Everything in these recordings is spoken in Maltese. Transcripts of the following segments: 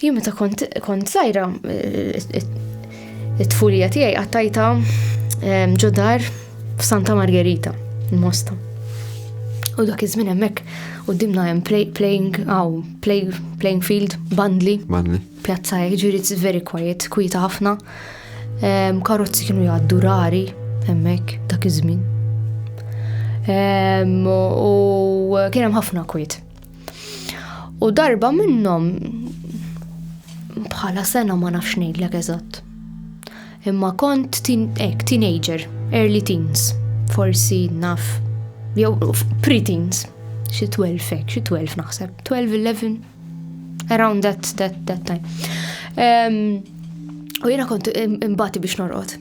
Jien meta kont kont żgħira it-tfulija tiegħi qattajta ehm, ġodar f'Santa Margherita, il-Mosta. U dak iż-żmien hemmhekk qudiemna hemm playing aw play playing field bandli. Bandli. Pjazza jiġri it's very quiet, kwieta ħafna. Ehm, karozzi kienu jgħaddu rari hemmhekk dak iż-żmien. Ehm, u kien hemm ħafna kwiet. U darba minnhom bħala sena ma nafx ngħidlek eżatt. Imma kont ek, teenager, early teens, forsi naf, jew pre-teens, xi 12 ek, xi 12 naħseb, 12, 11, around that, that, that time. Um, u jena kont imbati biex norqod.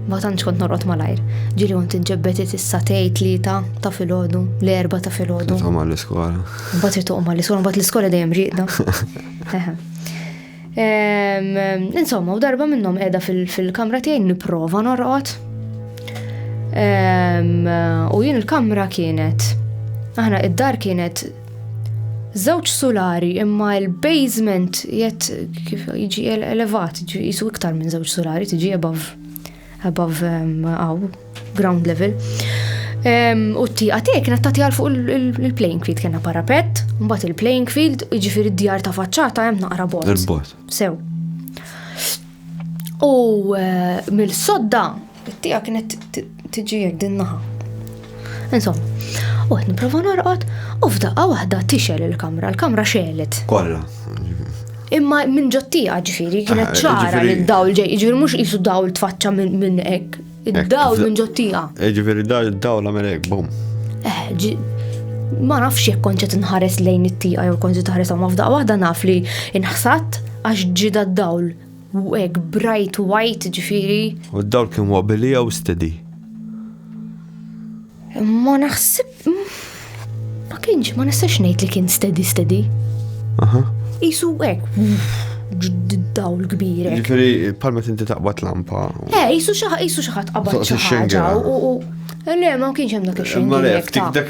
Ma tantx kont norqod malajr. Ġili kont inġebbet issa tej tlieta ta' filgħodu, l-erba ta' filgħodu. Titqom għall-iskola. Mbagħad titqom għall-iskola, mbagħad l-iskola dejjem rieqda. Insomma, u darba minnhom qiegħda fil-kamra tiegħi nipprova norqod. U jien il-kamra kienet. Aħna id-dar kienet Żewġ sulari imma l-basement jett kif jiġi elevat, jisu iktar minn żewġ sulari tiġi above above um, aw, ground level. U t-tiqa tiegħi kienet tagħti għal fuq il-playing field kena parapet, mbagħad il-playing field jiġifieri d-djar ta' faċċata hemm naqra bot. Sew. U eh, mill-sodda It-tija kienet tiġi jek din naħa. Insom, u għet niprofa norqot, u f'daqqa wahda tixel il-kamra, l-kamra xelet. Kolla. Imma minn ġottija ġifiri, kienet ah, ċara li d-dawl ġej, ġifiri mux jisu dawl tfaċċa minn ek. Id-dawl minn ġottija. Eh, ġifiri d-dawl għamil ek, bum. Eh, ma nafx jek konċet nħares lejn it-tija jew konċet nħares għamma f'daqqa wahda naf li nħsat għax ġida d-dawl U hekk bright white ġifieri. U d-dawl kien wobbly jew steady? Ma naħseb. Ma kienx, ma nistax ngħid li kien steady steady. Aha. Isu hekk. Dawl kbir. Ġifieri palma tinti taqbad lampa. Eh, isu xi ħadd qabad xi ħaġa. Le, ma kienx hemm dak ix-xejn. Ma le, ftik dak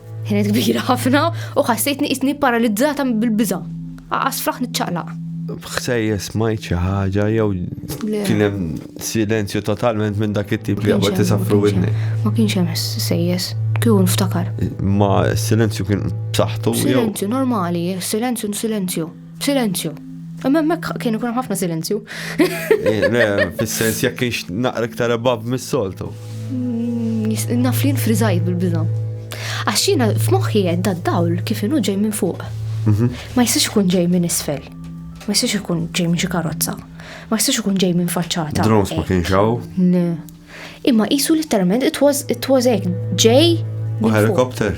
Kienet kbira ħafna u ħassejtni isni paralizzata bil-biża. Aqas fraħ niċċaqlaq. Bħsejja smajt xi ħaġa jew kien hemm silenzju totalment minn dak it-tip li għabad tisafru widni. Ma kienx hemm sejjes, kieku nftakar. Ma silenzju kien b'saħħtu. Silenzju normali, silenzju silenzju. Silenzju. Imma hemmhekk kien ikun ħafna silenzju. Eh, fis-sens jekk kienx naqra iktar ebab mis-soltu. Mm, naf li nfriżajt bil-biża. Għax jiena f'moħħi qed dawl kif inhu ġej minn fuq. Mhm. Ma jistax ikun ġej minn isfel. Ma jistax ikun ġej minn xi karozza. Ma jistax ikun ġej minn faċċata. Drones ma kienx hawn. Imma qisu letteralment it was it was hekk ġej. U helikopter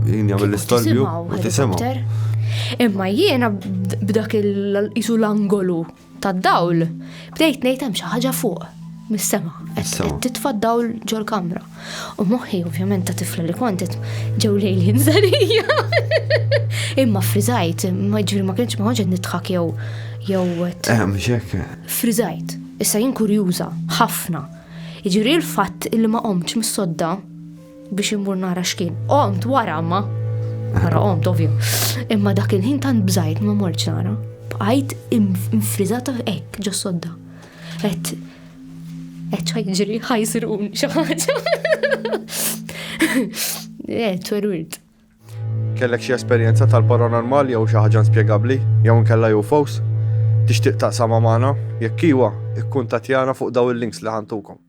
jien jagħmel l-istorbju u tisimgħu. Imma jiena b'dak il-qisu l-angolu tad-dawl bdejt ngħid hemm xi ħaġa fuq mis-sema. Qed titfa' dawl ġol-kamra. U moħħi ovvjament ta' tifla li kontet ġew lejli nżarija. Imma friżajt, ma ġifieri ma kienx ma konċet nidħak jew jew. Ehm, xek. Friżajt. Issa jien kurjuża ħafna. Jiġifieri l-fatt illi ma qomtx mis-sodda biex immur nara x'kien. Qomt wara ma nara qomt ovvju. Imma dak il-ħin tant bżajt ma mortx nara. Bqajt infriżata hekk ġo sodda. Et et ħajġri ħajsirun xi ħaġa. Eh, tweruirt. Kellek xi esperjenza tal-paranormal jew xi ħaġa inspjegabbli jew inkella UFOs? Tixtieq taqsamha magħna? Jekk iwa, ikkuntattjana fuq dawn il-links li ħantukom.